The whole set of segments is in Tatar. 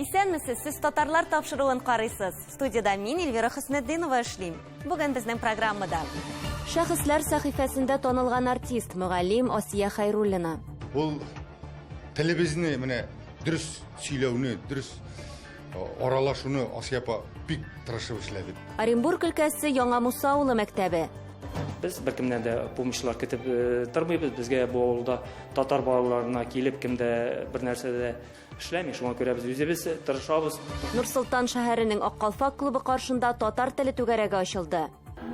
Исәнмесез, сез татарлар тапшыруын карыйсыз. Студияда мин Эльвира Хөснетдинова эшлим. Бүген безнең программада Шәхесләр сәхифәсендә танылган артист, мөгаллим Асия Хайруллина. Ул телебезне менә дөрес сөйләүне, дөрес аралашуны Асия апа бик тырышып эшләде. Оренбург өлкәсе Яңа Муса авылы мәктәбе. Без беркемнән дә помощьлар көтеп тормыйбыз. Безгә бу авылда татар балаларына килеп кемдә бер нәрсә дә Эшләми, шуңа күрә без үзебез тырышабыз. Нур-Солтан шәһәренең Ак калфак клубы каршында татар теле түгәрәге ачылды.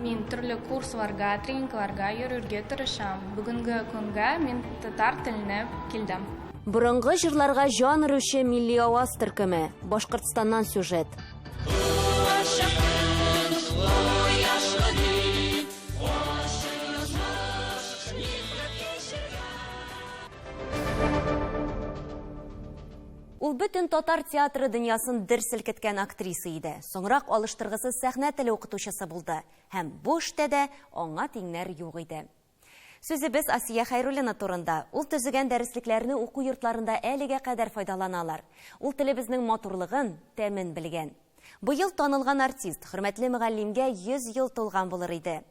Мин төрле курсларга, тренингларга йөрергә тырышам. Бүгенге көнгә мин татар теленә килдем. Борынгы җырларга җан өрүче милли аваз төркеме, Башкортстаннан сюжет. Ул бөтен татар театры дөньясын дер селкеткән актриса иде. Соңрак алыштыргысыз сәхнә теле укытучысы булды. Һәм бу эштә дә аңа тиңнәр юк иде. Сүзебез Асия Хәйруллина турында. Ул төзегән дәреслекләрне уку йортларында әлегә кадәр файдаланалар. Ул телебезнең матурлыгын, тәмен белгән. Быел танылган артист, хөрмәтле мөгаллимгә 100 ел тулган булыр иде.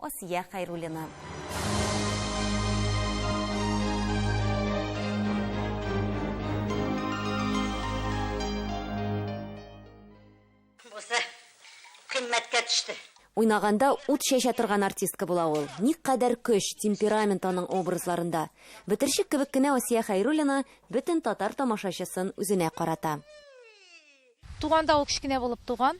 Асия Хәйруллина. Уйнаганда ут чәчә торган артистка була ул. Никадәр көч, темперамент аның образларында. Бетерчек кебек кенә Асия Хәйруллина бөтен татар тамашачысын үзенә карата. Туганда ул кечкенә булып туган.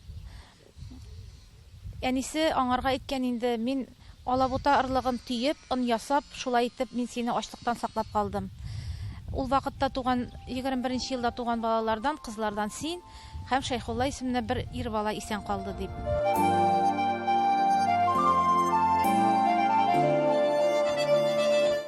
Әнисе аңарга әйткән инде, Мин алабута орлыгын төеп, он ясап, шулай итеп мин сине ачлыктан саклап калдым. Ул вакытта туган, егерме беренче елда туган балалардан, кызлардан син һәм Шәйхулла исемле бер ир бала исән калды, дип.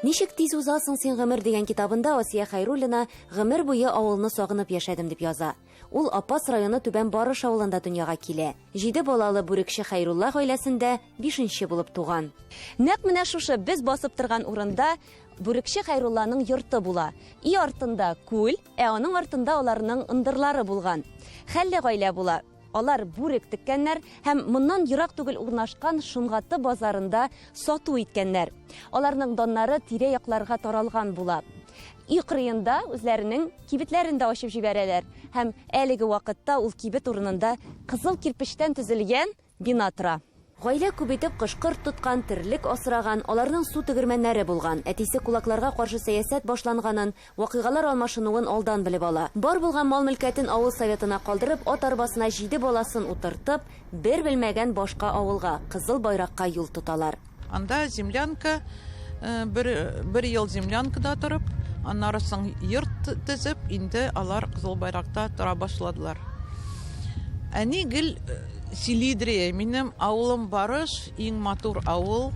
Ничек тиз уза соң син гомер дигән китабында Асия Хәйруллина Гомер буе авылны сагынып яшәдем, дип яза. Ул Апас районы Түбән Барыш авылында дөньяга килә. Җиде балалы бүрекче Хәйрулла гаиләсендә бишенче булып туган. Нәкъ менә шушы без басып торган урында бүрекче Хәйрулланың йорты була. И артында, күл, ә аның артында аларның ындырлары булган. Хәлле гаилә була. Алар бүрек теккәннәр һәм моннан ерак түгел урнашкан Шомгаты базарында сату иткәннәр. Аларның даннары тирә-якларга таралган була. Өй кырыенда үзләренең кибетләрен дә ачып җибәрәләр һәм әлеге вакытта ул кибет урынында кызыл кирпечтән төзелгән бина тора. Гаилә күп итеп кош-корт тоткан, терлек асраган, аларның су тегермәннәре булган. Әтисе кулакларга каршы сәясәт башланганын, вакыйгалар алмашынуын алдан белеп ала. Бар булган мал-мөлкәтен авыл советына калдырып, ат арбасына җиде баласын утыртып, бер белмәгән башка авылга, Кызыл Байракка юл тоталар. Анда землянка, бер, бер ел землянкада торып, аннары соң йорт төзеп, инде алар Кызыл Байракта тора башладылар. Әни гел. Селидрия, минем авылым Барыш, иң матур авыл.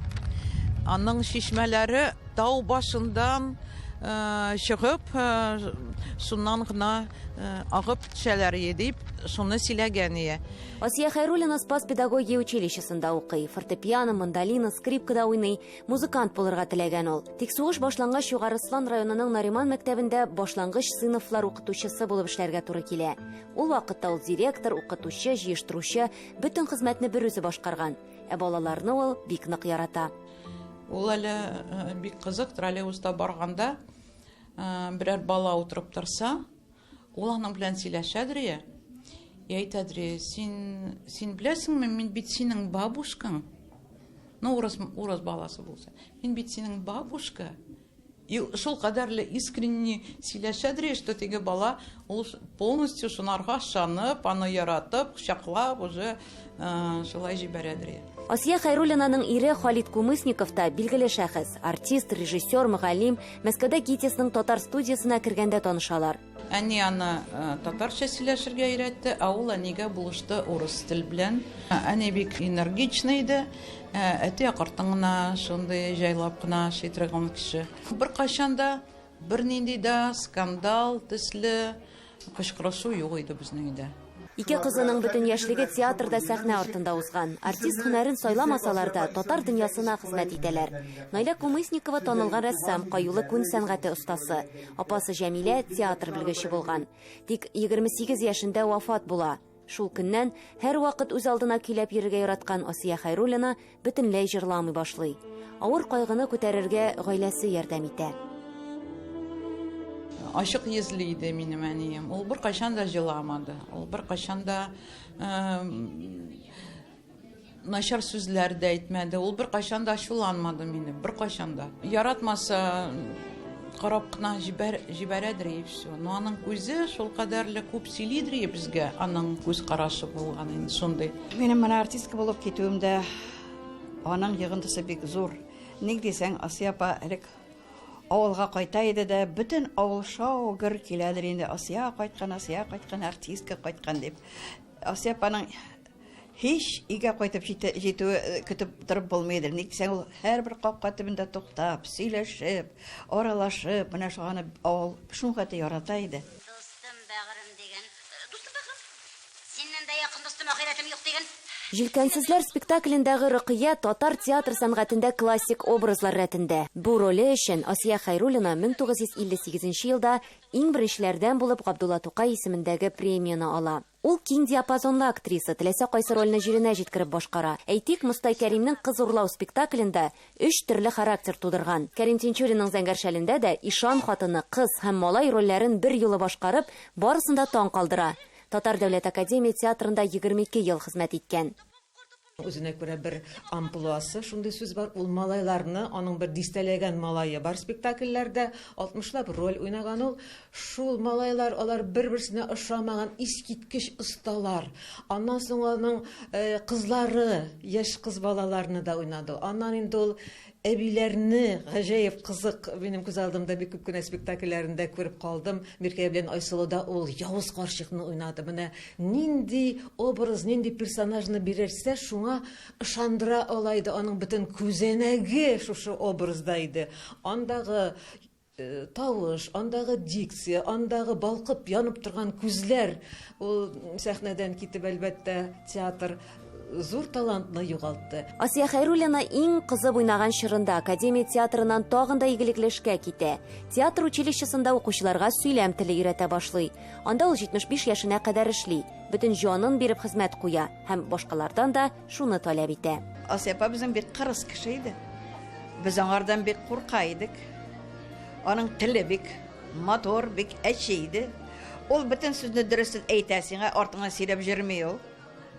Аның чишмәләре тау башындан э, чыгып, э, шуннан гына э, агып төшәләр ие, дип шуны сөйләгән ие. Асия Хайруллина Спас педагогия училищесында укый. Фортепиано, мандолина, скрипкада уйный. Музыкант булырга теләгән ул. Тик сугыш башлангач Югары Слан районының Нариман мәктәбендә башлангыч сыйныфлар укытучысы булып эшләргә туры килә. Ул вакытта ул директор, укытучы, җыештыручы, бөтен хезмәтне бер үзе башкарган. Ә балаларны ул бик нык ярата. Ул әле э, бик кызык, троллейбуста барганда э, берәр бала утырып торса, ул аның белән сөйләшә Дрия. И әйтә Дрия, син, син беләсеңме, мин бит синең бабушкаң. Ну, урыс, урыс баласы булса. Мин бит синең бабушка. И шул кадәрле искренне сөйләшә дри, что теге бала ул полностью шунарга ышанып, аны яратып, кочаклап уже шулай җибәрә дри. Асия Хәйруллинаның ире Халит Кумысников та билгеле шәхес, артист, режиссер, мөгаллим, Мәскәүдә ГИТИСның татар студиясенә кергәндә танышалар. Әни аны татарча сөйләшергә өйрәтте, ә ул әнигә булышты урыс тел белән. Әни бик энергичный иде. Әти акыртын гына, шундый җайлап кына эшли торган кеше. Беркайчан да бернинди дә скандал төсле кычкырышу юк иде безнең өйдә. Ике кызының бөтен яшьлеге театрда сәхнә артында узган. Артист һөнәрен сайламасалар да, татар дөньясына хезмәт итәләр. Наилә Кумысникова танылган рәссам, каюлы күн сәнгате остасы. Апасы Җәмилә театр белгече булган. Тик 28 яшендә вафат була. Шул көннән һәрвакыт үз алдына көйләп йөрергә яраткан Асия Хәйруллина бөтенләй җырламый башлый. Авыр кайгыны күтәрергә гаиләсе ярдәм итә. Ачык йөзле иде минем әнием. Ул беркайчан да җыламады. Ул беркайчан да начар сүзләр дә әйтмәде. Ул беркайчан да ачуланмады мине, беркайчан да. Яратмаса карап кына җибәр, җибәрәдер и все. Но аның үзе шул кадәрле күп сөйлидер и безгә, аның күз карашы булган инде шундый. Минем менә артистка булып китүемдә аның йогынтысы бик зур. Ник дисәң, Асия апа элек авылга кайта иде дә, бөтен авыл шау гөр киләдер инде. Асия кайткан, Асия кайткан, артистка кайткан дип. Асия апаның һич өйгә кайтып җитүе э, көтеп торып булмый иде. Ник дисәң, ул һәрбер капка төбендә туктап, сөйләшеп, аралашып, менә шуны авыл шуңгаты ярата иде. Дустым, бәгырем дигән. Э, дустым, бәгырем. Синнән дә якын дустым, ахирәтем юк диген. Җилкәнсезләр спектаклендәге Рокыя татар театр сәнгатендә классик образлар рәтендә. Бу роле өчен Асия Хәйруллина 1958 нче елда иң беренчеләрдән булып Габдулла Тукай исемендәге премияне ала. Ул киң диапазонлы актриса, теләсә кайсы рольне җиренә җиткереп башкара. Әйтик, Мостай Кәримнең Кыз урлау спектаклендә өч төрле характер тудырган. Кәрим Тинчуринның Зәңгәр шәлендә дә ишан хатыны, кыз һәм малай рольләрен берьюлы башкарып, барысын да таң калдыра. Татар дәүләт академия театрында 22 ел хезмәт иткән. Үзенә күрә бер амплуасы, шундый сүз бар, ул малайларны, аның бер дистәләгән малае бар спектакльләрдә, алтмышлап роль уйнаган ул. Шул малайлар, алар бер-берсенә ошамаган искиткеч осталар. Аннан соң аның кызлары яшь кыз балаларны да уйнады. Аннан инде ул Әбиләрне гаҗәеп кызык, минем күз алдымда бик күп кенә спектакльләрендә күреп калдым. Миркәя белән Айсылуда ул явыз карчыкны уйнады. Менә нинди образ, нинди персонажны бирерсә, шуңа ышандыра ала иде, аның бөтен күзәнәге шушы образда иде. Андагы Тавыш, андагы дикция, андагы балкып янып торган күзләр, ул сәхнәдән китеп, әлбәттә, театр зур талантны югалтты. Асия Хәйруллина иң кызып уйнаган чорында Академия театрыннан тагын да игелекле эшкә китә. Театр училищесында укучыларга сөйләм теле өйрәтә башлый. Анда ул 75 яшенә кадәр эшли, бөтен җанын биреп хезмәт куя һәм башкалардан да шуны таләп итә. Асия апа безнең бик кырыс кеше иде. Без аңардан бик курка идек. Аның теле бик матур, бик әче иде. Ул бөтен сүзне дөресен әйтә сиңа, артыңнан сөйләп йөрми ул.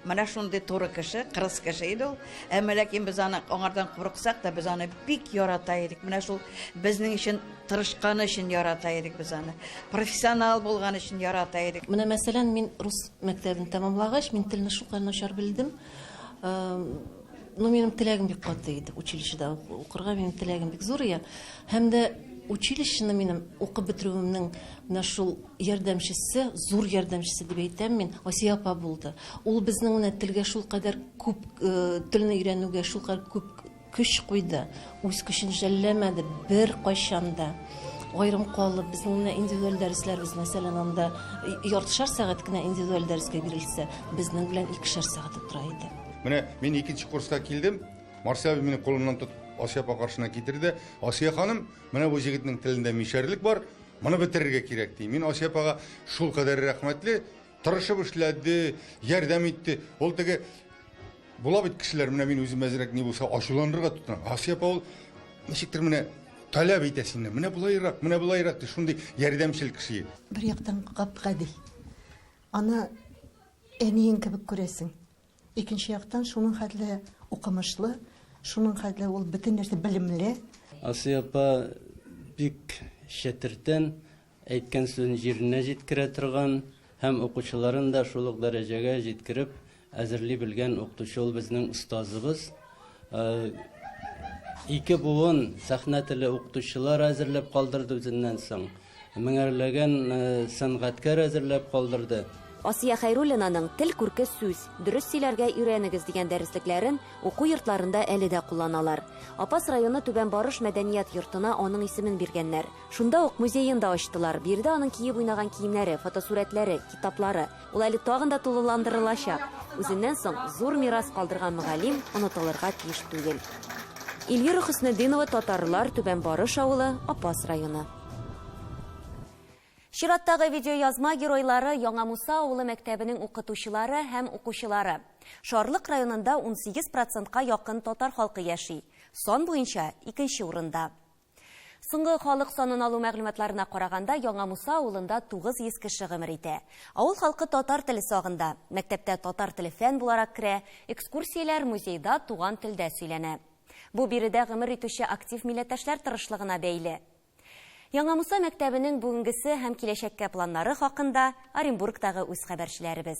Менә шундый туры кеше, кырыс кеше иде ул. Әмма ләкин без аны аңардан курыксак та, без аны бик ярата идек. Менә шул безнең өчен тырышканы өчен ярата идек без аны. Профессионал булган өчен ярата идек. Менә мәсәлән, мин рус Мәктәбен тәмамлагач, мин телне шулкадәр начар белдем. Ну, минем теләгем бик каты иде, училищеда укырга минем теләгем бик зур иде. Һәм дә училищены минем укып бетерүемнең менә шул ярдәмчесе, зур ярдәмчесе дип әйтәм мин, Асия апа булды. Ул безнең менә телгә шулкадәр күп, э, телне өйрәнүгә шулкадәр күп Көч куйды, үз көчен жәлләмәде беркайчан да. Аерым калып, безнең менә индивидуаль дәресләребез, мәсәлән, анда яртышар сәгать кенә индивидуаль дәрескә бирелсә, безнең белән икешәр сәгать утыра иде. Менә мин икенче курска килдем, Марсель абый мине кулымнан тотып Асия апа каршына китерде. Асия ханым, менә бу җегетнең телендә мишәрлек бар, моны бетерергә кирәк, ди. Мин Асия апага шулкадәр рәхмәтле, Тырышып эшләде, ярдәм итте. Ул теге була бит кешеләр, менә мин үзем әзрәк ни булса ачуланырга тотынам. Асия апа ул ничектер менә таләп итә сине. Менә булайрак, менә булайрак ди, шундый ярдәмчел кеше. Бер яктан гап-гади. Аны әниең кебек күрәсең. Икенче яктан шуның хәтле укымышлы, шуның хәтле ул бөтен нәрсә белемле. Асия апа бик чәтертән, Әйткән сүзен җиренә җиткерә торган һәм укучыларын да шул ук дәрәҗәгә җиткереп әзерли белгән укытучы ул безнең остазыбыз. Ике буын сәхнә теле укытучылар әзерләп калдырды үзеннән соң. Меңәрләгән сәнгатькәр әзерләп калдырды. Асия Хәйруллинаның Тел күрке сүз, дөрес сөйләргә өйрәнегез дигән дәреслекләрен уку йортларында әле дә кулланалар. Апас районы Түбән Барыш мәдәният йортына аның исемен биргәннәр. Шунда ук музеен да ачтылар. Биредә аның киеп уйнаган киемнәре, фотосурәтләре, китаплары. Ул әле тагын да тулыландырылачак. Үзеннән соң зур мирас калдырган мөгаллим онытылырга тиеш түгел. Эльвира Хөснетдинова, татарлар, Түбән Барыш авылы, Апас районы. Чираттагы видеоязма геройлары, Яңа Муса авылы мәктәбенең укытучылары һәм укучылары. Шарлык районында унсигез процентка якын татар халкы яши. Сан буенча, икенче урында. Соңгы халык санын алу мәгълүматларына караганда, Яңа Муса авылында 900 кеше гомер итә. Авыл халкы татар теле сагында. Мәктәптә татар теле фән буларак керә, экскурсияләр, музейда туган телдә сөйләнә. Бу биредә гомер итүче актив милләттәшләр тырышлыгына бәйле. Яңа Муса мәктәбенең бүгенгесе һәм киләчәккә планнары хакында Оренбургтагы үз хәбәрчеләребез.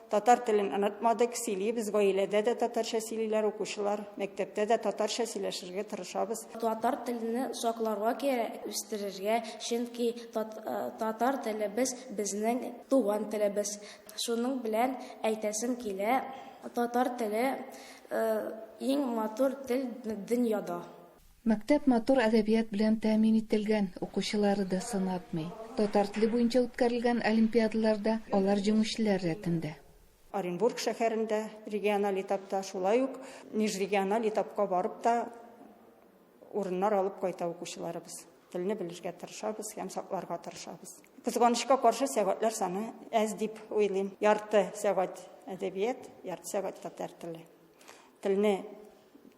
Татар телен онытмадык, сөйлибез, гаиләдә дә татарча сөйлиләр укучылар, мәктәптә дә татарча сөйләшергә тырышабыз. Татар телне сакларга кирәк, үстерергә, чөнки татар телебез, безнең туган телебез. Шуның белән әйтәсем килә, татар теле, иң матур тел дөньяда. Мәктәп матур әдәбият белән тәэмин ителгән, укучылары да сынатмый. Татар теле буенча үткәрелгән олимпиадаларда алар җиңүчеләр рәтендә. Оренбург шәһәрендә региональ этапта, шулай ук межрегиональ этапка барып та урыннар алып кайта укучыларыбыз. Телне белергә тырышабыз һәм сакларга тырышабыз. Кызганычка каршы, сәгатьләр саны әз дип уйлыйм. Ярты сәгать әдәбият, ярты сәгать татар теле. Телне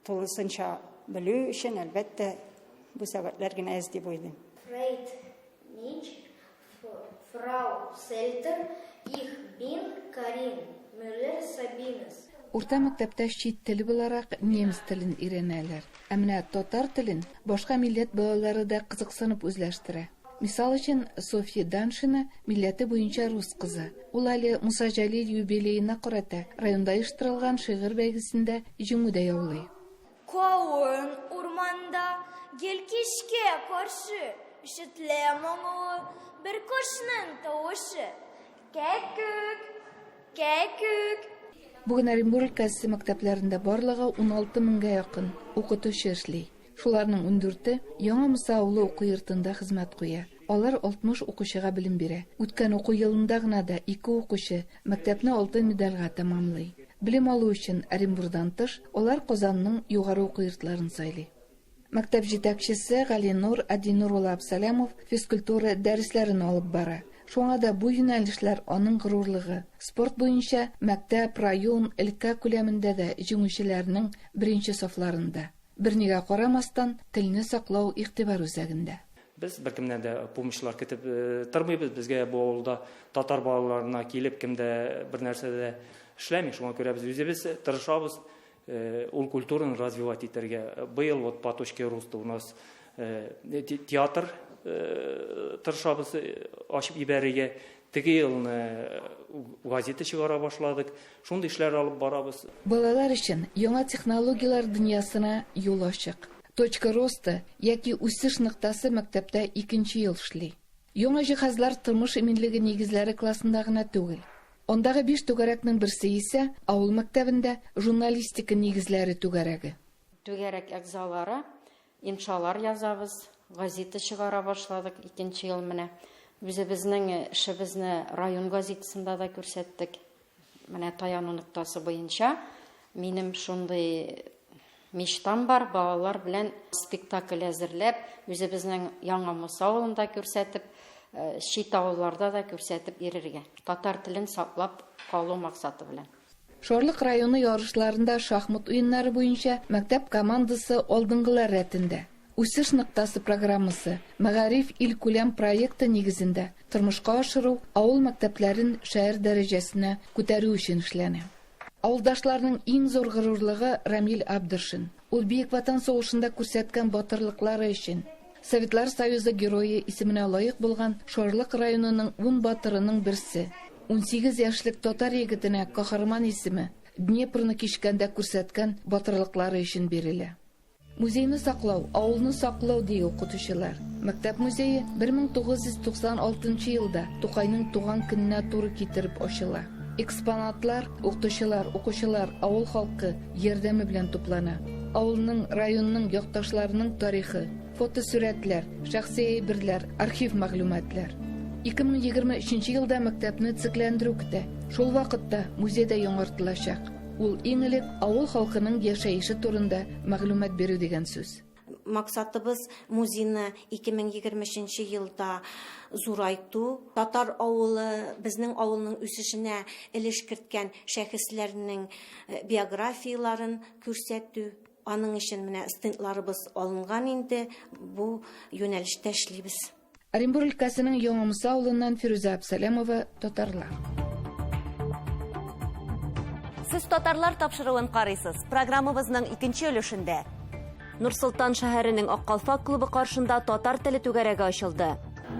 тулысынча белү өчен, әлбәттә, бу сәгатьләр генә әз дип уйлыйм. Фрейд Нич, Фрау Сельтер, Их бин Карин Мюллер Сабинес. Урта мәктәптә чит тел буларак немец телен өйрәнәләр. Ә менә татар телен башка милләт балалары да кызыксынып үзләштерә. Мисал өчен, Софья Даншина, милләте буенча рус кызы. Ул әле Муса Җәлил юбилеена карата районда оештырылган шигырь бәйгесендә җиңү дә яулый. Каен урманда гел кичкә каршы Ишетелә моңлы бер кошның тавышы, Кәккүк! Кәккүк! Бүген Оренбур өлкәсе мәктәпләрендә барлыгы уналты меңгә якын укытучы эшли. Шуларның ундүрте Яңа Муса авылы уку йортында хезмәт куя. Алар 60 укучыга белем бирә. Үткән уку елында гына да ике укучы мәктәпне алтын медальгә тәмамлый. Белем алу өчен Оренбурдан тыш, алар Казанның югары уку йортларын сайлый. Мәктәп җитәкчесе Галинур Адинур улы Абсалямов физкультура дәресләрен алып бара. Шуңа да бу юнәлешләр аның горурлыгы. Спорт буенча мәктәп, район, өлкә күләмендә дә җиңүчеләрнең беренче сафларында. Бернигә карамастан, телне саклау игътибар үзәгендә. Без беркемнән дә помощьлар көтеп тормыйбыз. Безгә бу авылда татар балаларына килеп кем дә бернәрсә дә эшләми. Шуңа күрә без үзебез тырышабыз ул культураны развивать итәргә. Быел вот по точке роста у нас Э, театр э, тырышабыз э, ачып ибәрергә теге елны газета чыгара башладык шундый эшләр алып барабыз балалар өчен яңа технологияләр дөньясына юл ачык точка роста яки үсеш ноктасы мәктәптә икенче ел эшли яңа җиһазлар тормыш иминлеге нигезләре классында гына түгел андагы биш түгәрәкнең берсе исә авыл мәктәбендә журналистика нигезләре түгәрәге түгәрәк әгъзалары Иншалар язабыз, газита чыгара башладык, икенче ел менә. Үзебезнең эшебезне район газитасында да күрсәттек. Менә Таяну ноктасы буенча минем шундый мечтам бар, балалар белән спектакль әзерләп, үзебезнең Яңа Муса авылында күрсәтеп, э, чит авылларда да күрсәтеп йөрергә. Татар телен саклап калу максаты белән. Шарлык районы ярышларында шахмат уеннары буенча мәктәп командасы алдынгылар рәтендә. Үсеш ноктасы программасы, Мәгариф илкүләм проекты нигезендә тормышка ашыру авыл мәктәпләрен шәһәр дәрәҗәсенә күтәрү өчен эшләнә. Авылдашларның иң зур горурлыгы Рамил Абдершин. Ул Бөек Ватан сугышында күрсәткән батырлыклары өчен, Советлар Союзы Герое исеменә лаек булган Шарлык районының ун батырының берсе. Унсигез яшьлек татар егетенә Каһарман исеме, Днепрны кичкәндә күрсәткән батырлыклары өчен бирелә. Музейны саклау, авылны саклау, ди укытучылар. Мәктәп музее 1996 елда Тукайның туган көненә туры китереп ачыла. Экспонатлар, укытучылар, укучылар, авыл халкы, ярдәме белән туплана. Авылның, районның, якташларының тарихы, фотосурәтләр, шәхси әйберләр, архив мәгълүматлар. 2023 елда мәктәпне цикләндерү көтә. Шул вакытта музей дә яңартылачак. Ул иң элек авыл халкының яшәеше турында мәгълүмат бирү дигән сүз. Максатыбыз музейны 2023 елда зурайту. Татар авылы, безнең авылның үсешенә өлеш керткән шәхесләрнең э, биографияләрен күрсәтү. Аның өчен менә стендларыбыз алынган инде. Бу юнәлештә эшлибез. Оренбур өлкәсенең Яңа Муса авылыннан Фирүзә Абсалямова, Татарлар. Сез Татарлар тапшыруын карыйсыз. Программабызның икенче өлешендә. Нур-Солтан шәһәренең Аккалфак клубы каршында татар теле түгәрәге ачылды.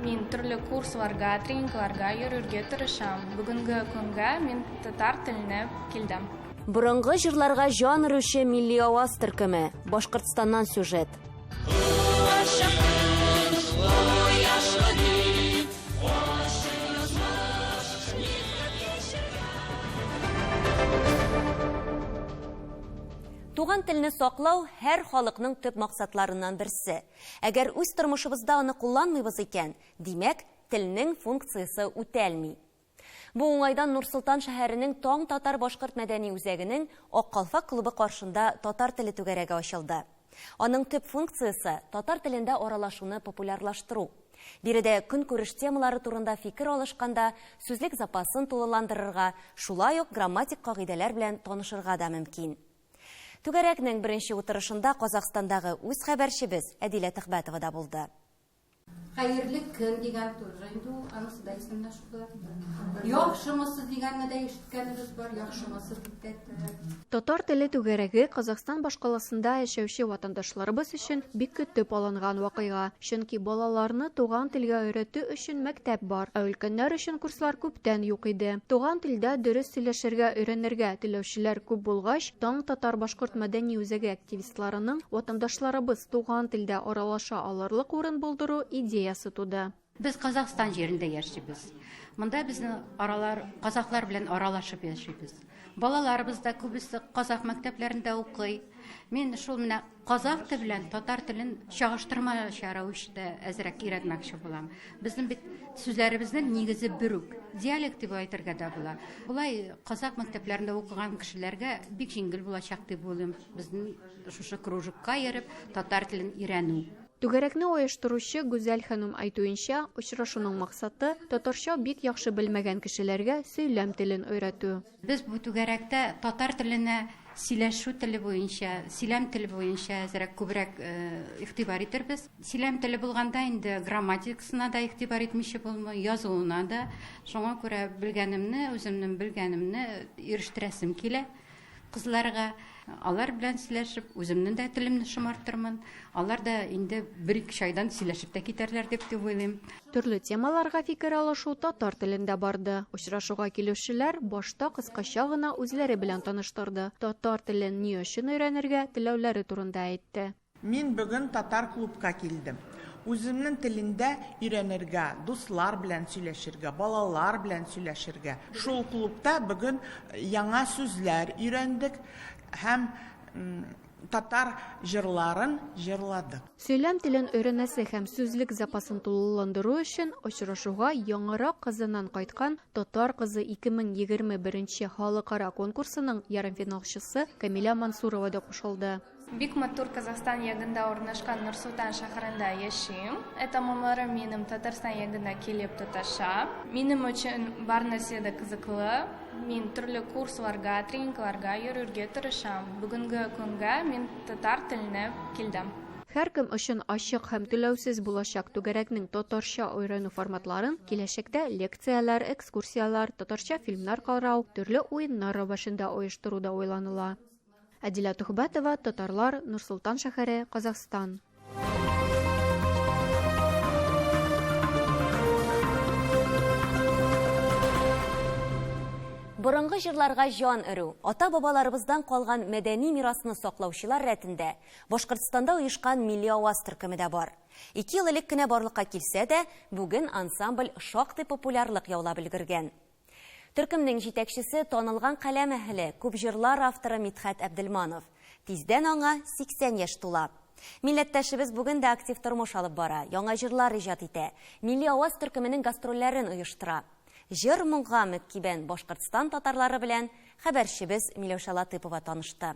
Мин төрле курсларга, тренингларга йөрергә тырышам. Бүгенге көнгә мин татар теленә килдем. Борынгы җырларга җан өрүче милли аваз төркеме, Башкортстаннан сюжет. Туган телне саклау һәр халыкның төп максатларыннан берсе. Әгәр үз тормышыбызда аны кулланмыйбыз икән, димәк, телнең функциясе үтәлми. Бу уңайдан Нур-Солтан шәһәренең Таң татар-башкорт мәдәни үзәгенең Ак калфак клубы каршында татар теле түгәрәге ачылды. Аның төп функциясе, татар телендә аралашуны популярлаштыру. Биредә көнкүреш темалары турында фикер алышканда, сүзлек запасын тулыландырырга, шулай ук грамматик кагыйдәләр белән танышырга да мөмкин. Түгәрәкнең беренче утырышында Казахстандагы үз хәбәрчебез Әдилә Төхбәтова да булды. Хәерле көн дигән тоже инде ул, анысы да исемнән шугар. Яхшымысыз дигәнне дә ишеткәнебез бар, яхшымысыз дип тә әйттеләр. Татар теле түгәрәге Казахстан башкаласында яшәүче ватандашларыбыз өчен бик көтеп алынган вакыйга. Чөнки балаларны туган телгә өйрәтү өчен мәктәп бар, ә өлкәннәр өчен курслар күптән юк иде. Туган телдә дөрес сөйләшергә өйрәнергә теләүчеләр күп булгач, Таң татар-башкорт мәдәни үзәге активистлары, журналистларының ватандашларыбыз туган телдә аралаша алырлык урын булдыру идеясы туды. Без Казахстан җирендә яшибез. Монда безнең аралар казахлар белән аралашып яшибез. Балаларыбыз да күбесе казах мәктәпләрендә укый. Мин шул менә казах теле белән татар телен чагыштырмача рәвештә әзрәк өйрәтмәкче булам. Безнең бит сүзләребезнең нигезе бер үк. Диалект дип әйтергә дә була. Болай казах мәктәпләрендә укыган кешеләргә бик җиңел булачак дип уйлыйм. Безнең шушы кружокка йөреп, татар телен өйрәнү. Түгәрәкне оештыручы Гүзәл ханым әйтүенчә, очрашуның максаты, татарча бик яхшы белмәгән кешеләргә сөйләм телен өйрәтү. Без бу түгәрәктә татар теленә сөйләшү теле буенча, сөйләм теле буенча әзрәк күбрәк игътибар итербез. Сөйләм теле булганда инде грамматикасына да игътибар итмичә булмый, язуына да. Шуңа күрә белгәнемне, үземнең белгәнемне ирештерәсем килә. кызларга, алар белән сөйләшеп, үземнең дә телемне шомартырмын. Алар да инде бер-ике чайдан сөйләшеп тә китәрләр дип дип уйлыйм. Төрле темаларга фикер алышу татар телендә барды. Очрашуга килүчеләр башта кыскача гына үзләре белән таныштырды, татар телен ни өчен өйрәнергә теләүләре турында әйтте. Мин бөген татар клубка килдем. Үземнен телендә өйрәнергә, дуслар белән сөйләшергә, балалар белән сөйләшергә. Шул клубта бөген яңа сүзләр өйрәндек һәм татар җырларын җырладык. Сөйләм телен өйрәнәсе һәм сүзлек запасын тулыландыру өчен очрашуга яңарак Казаннан кайткан Татар кызы 2021 нче халыкара конкурсының ярымфиналчысы Камилә Мансурова да кушылды. Бик матур Казахстан ягында урнашкан Нурсултан шәһәрендә яшим. Этамомырым минем Татарстан ягында килеп тоташа. Минем өчен бар нәрсә дә кызыклы. Мин төрле курсларга, тренингларга йөрергә тырышам. Бүгенге көнгә мин татар теленә килдем. Һәркем өчен ачык һәм түләүсез булачак түгәрәкнең татарча өйрәнү форматларын киләчәктә лекцияләр, экскурсияләр, татарча фильмнар карау, төрле уеннар рәвәшендә оештыру да уйланыла. Әдилә Тухбәтова, Татарлар, Нурсултан шәһәре, Казахстан. Борынгы җырларга җан өрү, ата-бабаларыбыздан калган мәдәни мирасны саклаучылар рәтендә Башкортстанда оешкан Милли аваз төркеме дә бар. Ике ел элек кенә барлыкка килсә дә, бүген ансамбль шактый популярлык яулап өлгергән. Төркемнең җитәкчесе, танылган каләм әһеле, күп җырлар авторы Мидхәт Әбделманов. Тиздән аңа 80 яшь тула. Милләттәшебез бүген дә актив тормыш алып бара, яңа җырлар иҗат итә, Милли аваз төркеменең гастрольләрен оештыра. Җыр-моңга мөккибән Башкортстан татарлары белән хәбәрчебез Миләүшә Латыпова танышты.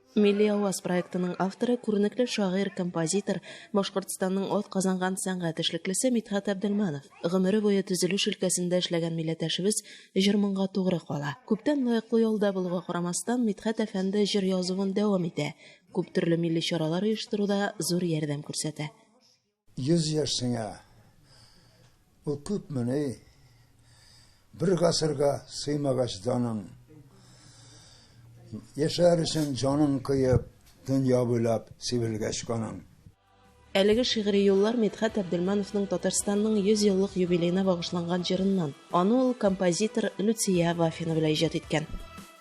Милли аваз проектының авторы, күренекле шагыйрь, композитор, Башкортстанның атказанган сәнгать эшлеклесе Мидхәт Әбделманов. Гомере буе төзелеш өлкәсендә эшләгән милләтәшебез җыр-моңга тугры кала. Күптән лаеклы ялда булуга карамастан, Мидхәт әфәнде җыр язуын дәвам итә, күптөрле милли чаралар оештыруда зур ярдәм күрсәтә. Йөз яшь сеңә. Бу күпмени? Бер гасырга сыймагач даның. Яшәр өчен җаның кыеп, дөнья буйлап сибелгәч каның. Әлеге шигъри юллар Мидхәт Әбделмановның Татарстанның 100 еллык юбилеена багышланган җырыннан. Аны ул композитор Люция Вафина белән иҗат иткән.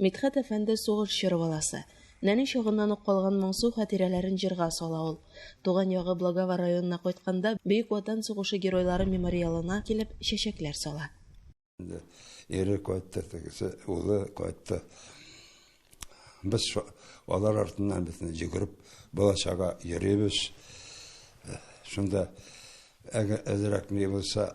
Мидхәт әфәнде сугыш чоры баласы. Нәни чагыннан ук калган моңсу хатирәләрен җырга сала ул. Туган ягы Благова районына кайтканда, Бөек Ватан сугышы геройлары мемориалына килеп, чәчәкләр сала. Ире кайтты, тегесе, улы кайтты. Без алар артыннан бетне йөгереп, бала-чага йөрибез. Шунда әзрәк ни булса,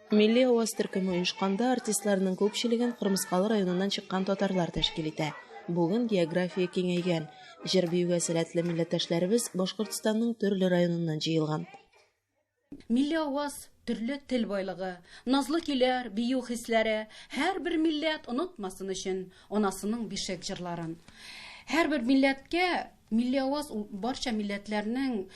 Милли аваз төркеме оешканда артистларның күпчелеген Кырмыскалы районыннан чыккан татарлар тәшкил итә. Бүген география киңәйгән. Җыр-биюгә сәләтле милләттәшләребез Башкортстанның төрле районыннан җыелган. Милли аваз, төрле тел байлыгы, назлы көйләр, бию хисләре, һәрбер милләт онытмасын өчен анасының бишек җырларын. Һәрбер милләткә Милли аваз ул барча милләтләрнең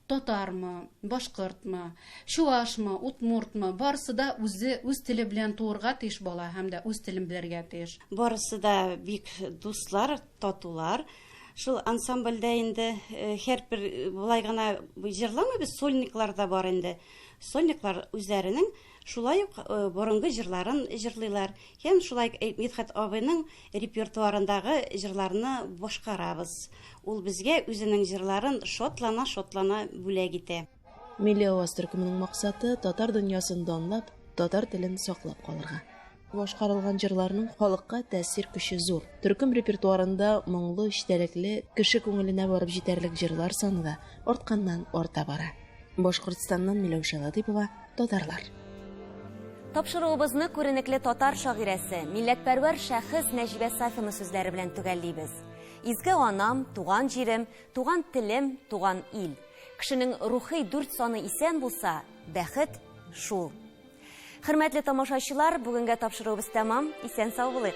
татармы, башкортмы, чуашмы, удмуртмы, барысы да үзе үз теле белән туырга тиеш бала һәм дә үз телен белергә тиеш. Барысы да бик дуслар, татулар. Шул ансамбльдә инде һәрбер болай гына җырламыйбыз, сольниклар да бар инде. Сольниклар үзләренең Шулай ук борынгы җырларын җырлыйлар һәм шулай Мидхәт абыйның репертуарындагы җырларны башкарабыз. Ул безгә үзенең җырларын шатлана-шатлана бүләк итә. Милли аваз төркеменең максаты, татар дөньясын данлап, татар телен саклап калырга. Башкарылган җырларның халыкка тәэсир көче зур. Төркем репертуарында моңлы, эчтәлекле, кеше күңеленә барып җитәрлек җырлар саны да артканнан-арта бара. Башкортстаннан Миләүшә Латыйпова, Татарлар. Тапшыруыбызны күренекле татар шагыйрәсе, милләтпәрвәр шәхес Нәҗибә Сафина сүзләре белән төгәллибез. Изге анам, туган җирем, туган телем, туган ил. Кешенең рухи дүрт саны исән булса, бәхет шул. Хөрмәтле тамашачылар, бүгенгә тапшыруыбыз тәмам. Исән сау булыйк.